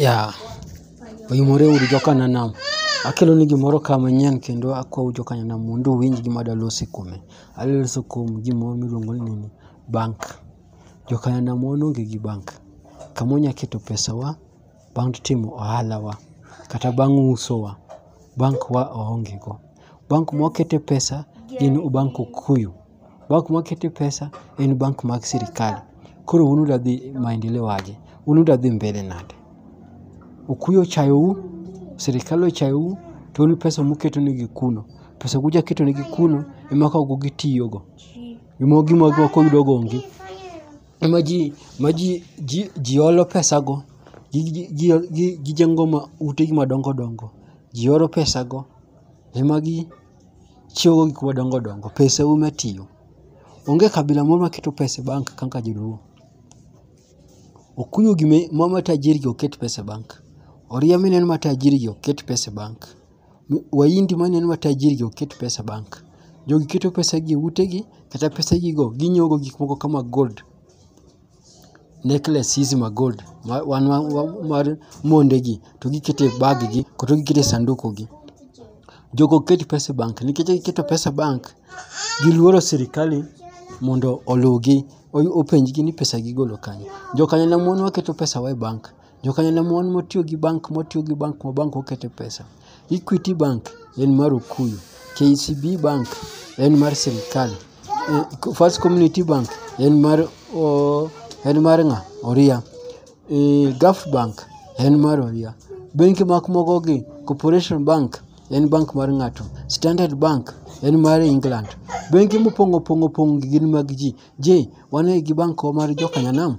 ya oyumore uru jokananam akelo ni gimoro ka manyien kendo akwau jokananam mondo uwinj gima adalose kuome adaloso kuom gimoro miluongo ni bank jokananam wan onge gi bank kama wanya keto pesawa bang' timo ohalawa kata bang' usowa bank wa waonge go bank mwakete pesa gin bank okuyu Bank ma kete pesa en bank mag sirikal. Koro un uda dhi maendeleo aje? Un uda dhi mbele nade? Okuyu ochayou, sirikal ochayou, to un pesa muketo negi kuno. Pesa kuja keto negi kuno ema kago gitiyogo. Gima gima ok oyudo go onge. Ema ji ma ji ji ji olo pesa go. Gi gi gi gi gijengo ma ute gi madongo dongo. Ji oro pesa go. Ema gi chiwogo gik madongo dongo, pesa e ume tiyo. Onge kabila moro ma keto pesa e bank kaka joluo. Okuyu gi me ma ma tajiri gi ok ket pesa e bank. Oria ma ineno ma tajiri gi ok ket pesa e bank. Mi- Wahindi ma ineno ma tajiri gi ok ket pesa e bank. Jogi keto pesa gi e ute gi, kata pesa gi go ginyiewo go gik moko kama gold. necklace hizi ma gold ma, wan, wan, wan, mar mondegi to gikete e bag gi kata gikete e sanduku gi jogo ok ket pesa e bank nikech ka giketo pesa e bank giluoro sirikali mondo oluwgi o- openjgi ni pesa gigolo kanye jokanyna mon waketo pesa wa e bank Jokanyo ne mon motiyo gi bank motiyo gi bank ma bank okete pesa. Equity Bank en mar Okuyu. KCB Bank en mar sirkal. First Community Bank en mar o, en mar ng'a? Oria. E, Gulf Bank en mar Oria. Bengi mak moko gi Corporation Bank en bank mar ng'ato. Standard Bank en mar England. Bengi mopong' opong' opong' gin mag ji. Je, wan gi bank mar jokanyanam?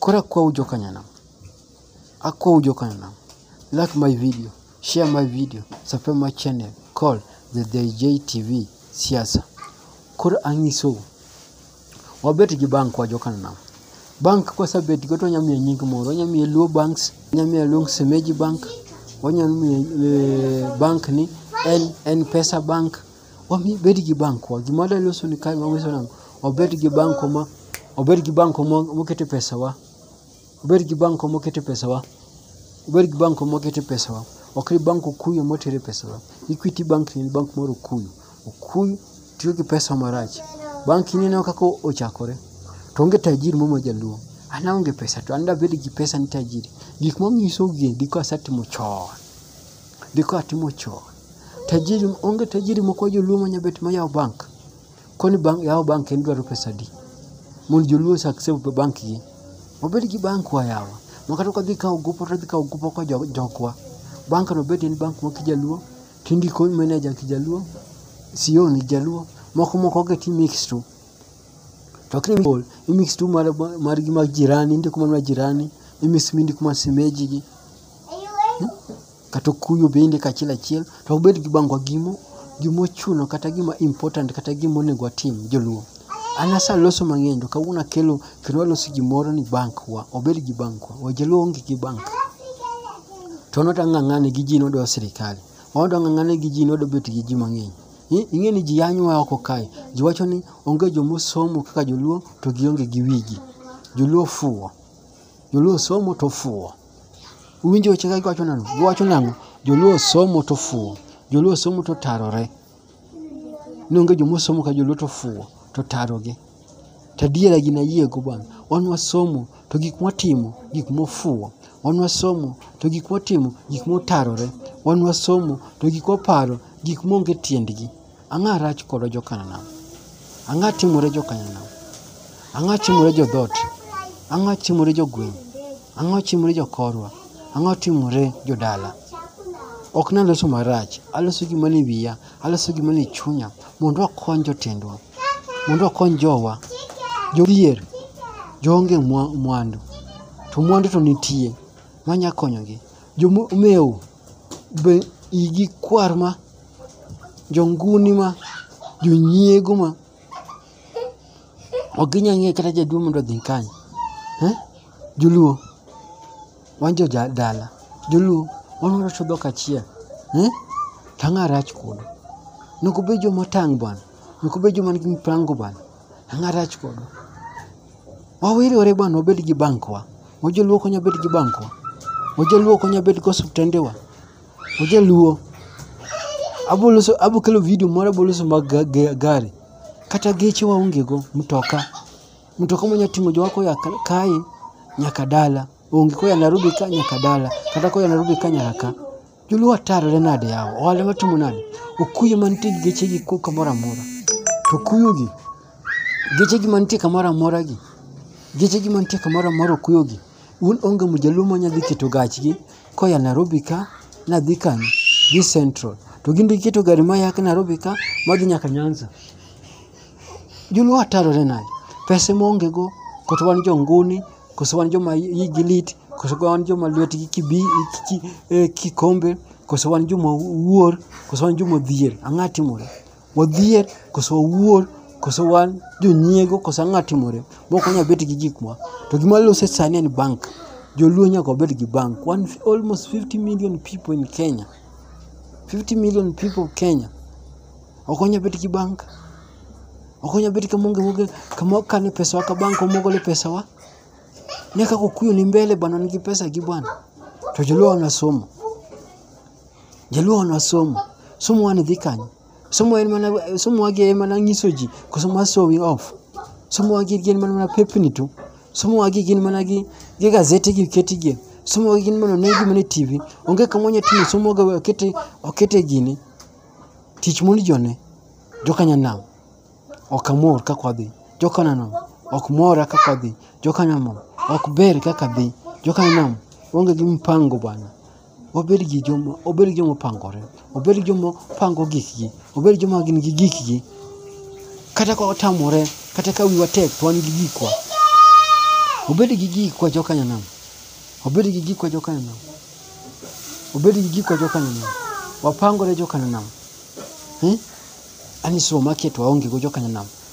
Koro akwau jokanyanam, akwau jokanyanam, like my video, share my video, subscribe my channel, call the DJ TV siasa. Koro ang'isou, wabet gi bank wa jokanyanam. Bank kwasebet go to wanyalo miye nying moro, wanyalo miye Luo Banks, wanyalo miye Luong Semeji Bank, wanyalo miye eh, bank ni en en pesa bank Wami bed gi bankwa. Gima wadwa loso ni kae wanyiso nang'o? Wabed gi banko ma wabed gi banko ma mokete pesawa. Wabed gi banko mokete pesawa. Wabed gi banko mokete pesawa. Ok ni bank Okuyu motere pesawa. Equity bank ni en bank mar Okuyu. Okuyu tiyo gi pesa marach. Bank ni ineno kaka ochakore. To onge tajiri moro ma jaluo. An aonge pesa to an dabed gi pesa ni tajiri. Gik monyiso gi endi kasetimo chon. Gi ka timo chon. Tajiri onge tajiri moko joluo ma nyabet ma yawo bank. Koni bank yawo bank en dwaro pesa adi? Mond joluo sa kse be bank gi. Wabed gi bank wa yawa. Ma kata kwa dhi kawo gopo to wadhi kawo gopo kwa jokwa. Bank no bed en bank ma kijaluo, tindiko manager kijaluo, CEO ni jaluo. Moko moko gi ti mix tu. To kri mol, i mix tu mar gi mar jirani, indiko mana jirani, i mix mindiko mar simeji gi. Hmm? Kata okuyo bende kachiel achiel to obed gi bangwa gimo gimo chuno kata gima important kata gima onego atim joluo. An asa loso mang'eny to kawuono akelo kendo aloso gimoro ni bank wa obed gi bank wa. Wajaluo onge gi bank. To noto ang'ang'ane gi ji nodwa sirikali. Odo ang'ang'ane gi ji nodwa bet gi ji mang'eny. Ing'e ni ji yanywa oko kae. Ji wacho ni onge jomosomo kaka joluo to gionge gi wigi. Joluo fuwo. Joluo somo to ofuwo. Uwinjo wechega giwacho nang'o? Giwacho nang'o? Joluo somo to fuwo. Joluo somo to tarore. Nonge joma somo ka joluo to fuwo to tarogi. To adiera gini ayiego bwana. Wan wasomo to gik mwatimo gik mofuwo. Wan wasomo to gik mwatimo gik motarore. Wan wasomo to gik mwaparo gik maonge tiendgi. Ang'a rach kodo jo Kananam. Ang'a timore jo Kananam. Ang'a timore jo dhot. Ang'a timore jo gweng. Ang'a timore jo korwa. Ang'a timore jo dala. Ok naloso marach. Aloso gima ni wiya. Aloso gima ni chunya. Mondo akony jotendwa. Mondo akony jowa. Jodhier. Joonge mwa- mwandu. To mwandu to nitie. Manya konyogi. Jomewo. Be igi kwar ma jonguni ma jonyiego ma ok ginya ng'eyo kata jaduong' mondo odhi kanye eh? joluo wan jo ja- dala joluo wan warocho dhok achiel eh? to ang'a rach kodu nok obed joma otang' bwana nok obed joma nigi mipango bwana ang'a rach kodu wawiriwore bwana wabed gi bankwa wajoluo konya bed gi bankwa wajoluo konya bed gi osiptendewa Oje luo. Abo loso abo kelo video moro abo loso mag ga- ga- gari. Kata geche waonge go mtoka. Mtoka manya ting'o jowa koya ka- kae nyaka dala. Onge koya Nairobi ka nyaka dala. Kata koya Nairobi ka nyaka ka. Joluo atarore nade yawa. Ohala matimo nade. Okuyo mantie gi geche gi ko kamoro amora. To okuyo gi. Geche gi mantie kamoro amora gi. Geche gi mantie kamoro amora okuyo gi. Un onge mjaluo ma nyadhi keto gachgi koya Nairobi ka nadhi kanye? Dhi Central. To gin be giketo gari ma yak Nairobi ka madhi nyaka Nyanza. Joluo atarore nade? Pesa ma onge go, koso wan jo nguni, koso wan joma igi lit, koso wan joma lwetgi kibi, ki, eh, kikombe, koso wan joma wuor, koso wan joma odhier. Ang'a timore. wadhier koso wawuor koso wan jonyiego koso ang'a timore mok wanyal bet gi gikwa to gima lose sani en bank joluo nyaka wabed gi bank One, almost 50 million people in kenya 50 million people kenya ok wanyal bet gi bank ok wanyal bet kama onge wuoge kama wakane pesawa ka bank omogole pesawa ne kaka okuyo ni mbele bana nigi pesa gi bwana to joluo wanasomo Jaluo wan wasomo. Somo wani dhi kanye? Somo en mana somo wagi en mana nyiso ji koso ma showing off. Somo wagi gin mana mana pepni tu. Somo wagi gin mana gi gi gazete gi keti gi. Somo wagi gin mana negi mana TV. Onge kama onya timo somo wagi okete okete gini. Tich moni jone. Joka nyanam. Ok amor kaka wadhi. Joka nyanam. Ok mora kaka wadhi. Joka nyanam. Ok ber kaka dhi. Joka nyanam. Onge gi mpango bana. obed gi joma obed joma opangore obed joma pango gikgi obed joma gin gi gikgi kata ka watamore kata ka wiwa tek to wan gi gikwa obed gi gikwa jokanyanam obed gi gikwa jokanyanam obed gi gikwa jokanyanam wapangore jokanyanam eh? ani suma maketo waongego jokanyanam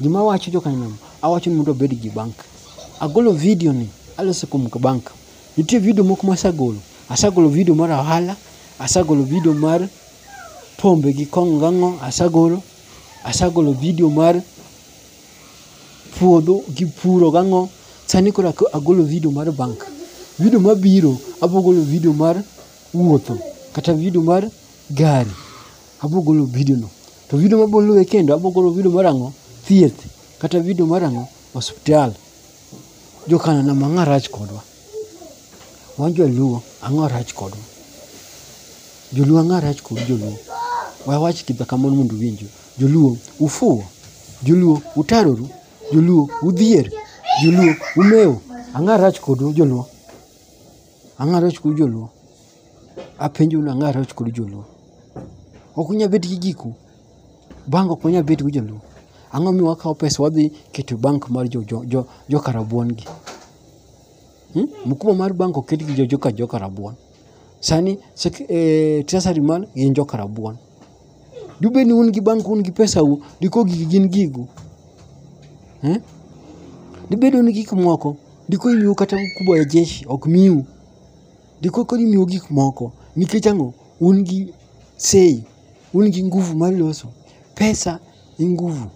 Gima awacho joka nam, awacho ni mondo abed gi bank. Agolo video ni, alose kuom bank. Nitie video moko ma asegolo. Asegolo video mar ohala, asegolo video mar pombe gi kong'o gi ang'o, asegolo. Asegolo video mar puodho gi puro gi ang'o. Sani koro agolo video mar bank. Video mabiro, abiro golo video mar wuotho kata video mar gari. Abiro golo video no. To vidio ma boluwe kendo abogolo vidio mar ang'o? Thieth kata vidio mar ang'o? Osiptal. Jokana na mang'a rach kodwa. Wan joluo ang'o rach kodwa? Joluo ang'o rach kod joluo? Wawach kidha kamoro mondo uwinjwa. Joluo ufuwo. Joluo utaroru. Joluo udhier. Joluo umewo. Ang'o rach kodu joluo? Ang'o rach kodu joluo? Apenjou nang'o Arioch kod Joluo? Ok unyal bet gi giku. Bank ok unyal bet gi Joluo. Ang'o miyo wakawo pesa wadhi keto e bank mar jo, jo, jo, jo Karabuon gi? Hmm? Mkubwa mar bank oket gi jo, jo, jo Karabuon. Sani sek, eh, treasury man gin jo Karabuon. Dube ni un gi bank un gi pesa u, diko gigi gin gigu. Hmm? Dibedo ni gik moko, diko imiu kata mkubwa ya jeshi ok miu. Ndiko koni miyo gik moko nikech ang'o? Un gi sei, un gi nguvu mar loso. Pesa e nguvu.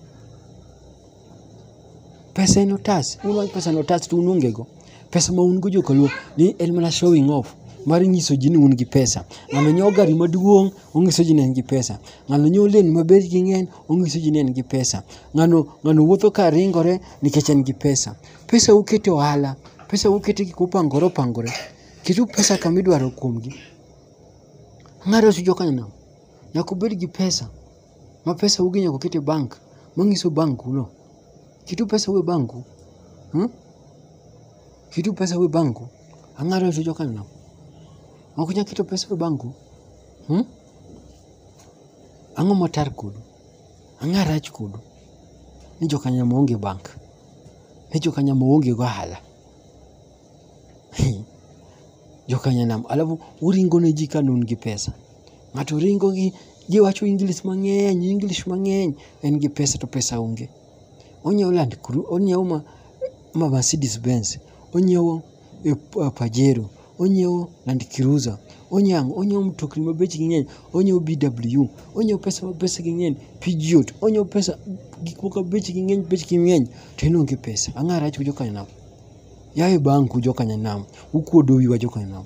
Pesa en otas, un wach pesa en otas to un onge go. Pesa ma un go jokaluo ni en mana showing off mar nyiso ji ni un gi pesa. Ng'ano nyiewo gari maduong' onyiso ji ni en gi pesa. Ng'ano nyiewo lewni ma bechgi ng'eny onyiso ji ni en gi pesa. Ng'ano ng'ano wuotho ka ringore nikech en gi pesa. pesa ukete ohala pesa ukete gik mopangore opangore ketu pesa kama idwaro kuomgi ng'ato osu jokanyono nyaka ubed gi pesa ma pesa ugi nyaka uket e bank manyiso bank uno ketu pesa u e bank u hmm? ketu pesa u e bank u ang'ato osu jokanyono ok unyal keto pesa u e bank u hmm? ang'o matar kodu ang'o arach kodu ni jokanyono maonge bank He jokanyanam oonge gohala. jokanyanam alafu uringo ne ji ka nun gi pesa. Ng'ato ringo gi ji wacho English mang'eny, English mang'eny, en gi pesa to pesa onge. Onyiewo Land Cru, onyiewo ma, ma Mercedes Benz, onyiewo eh, pa- Pajero, onyiewo Land Cruiser, onyang', onyiewo mtokni ma bechgi ng'eny, onyiewo BW, onyiewo pesa ma pesagi ng'eny, Peugeot, onyiewo pesa gik moko bechgi ng'eny, bechgi ng'eny, to en onge pesa. Ang'o arach ku jokanyanam? Yaye banku jokanyanam, ukuodo wiwa jokanyanam.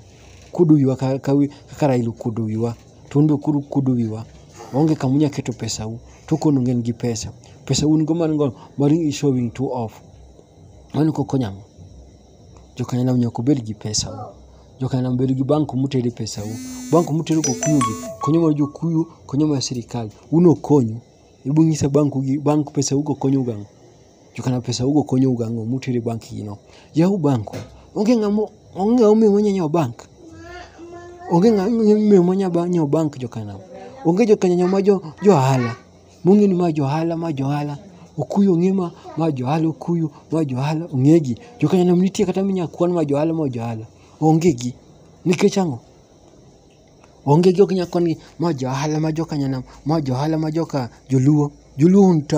Kuodo wiwa ka, ka, wi- kaka Raila okuodo wiwa, to un be koro ukuodo wiwa. Onge kama unyalo keto pesau, to kono ng'en gi pesa. Pesa un go man go, mar showing two off. Mano e kaka okonyo ang'o? Jo kanyakla nyaka obed gi pesa u. Jo kanyakla nyaka bed gi bank kuma utere pesa u. Bank kuma utere kokuyu gi, konyo mana jokuyu, konyo mana sirkal. Un ok konyu. Ibiro nyisa bank u gi, bank pesa u go konyou gi ang'o? Jo kanyakla pesa u go konyou gi ang'o mutere e bank gi no? Yaw bank u. Onge ng'ama, onge ng'ama omiyo wanya nyiewo bank. Onge ng'ama omiyo wanya nyiewo bank jo kanyakla. Onge jo kanyakla ma jo ohala. mong'e ni ma johala ma johala okuyu ong'e ma ma johala okuyu ma johala ong'egi jokanyalom nitie kata minya kwan ma johala ma johala onge gi nikech ang'o onge gi ok nya kwan gi ma johala ma jokanyanam ma johala ma joka joluo joluo un ta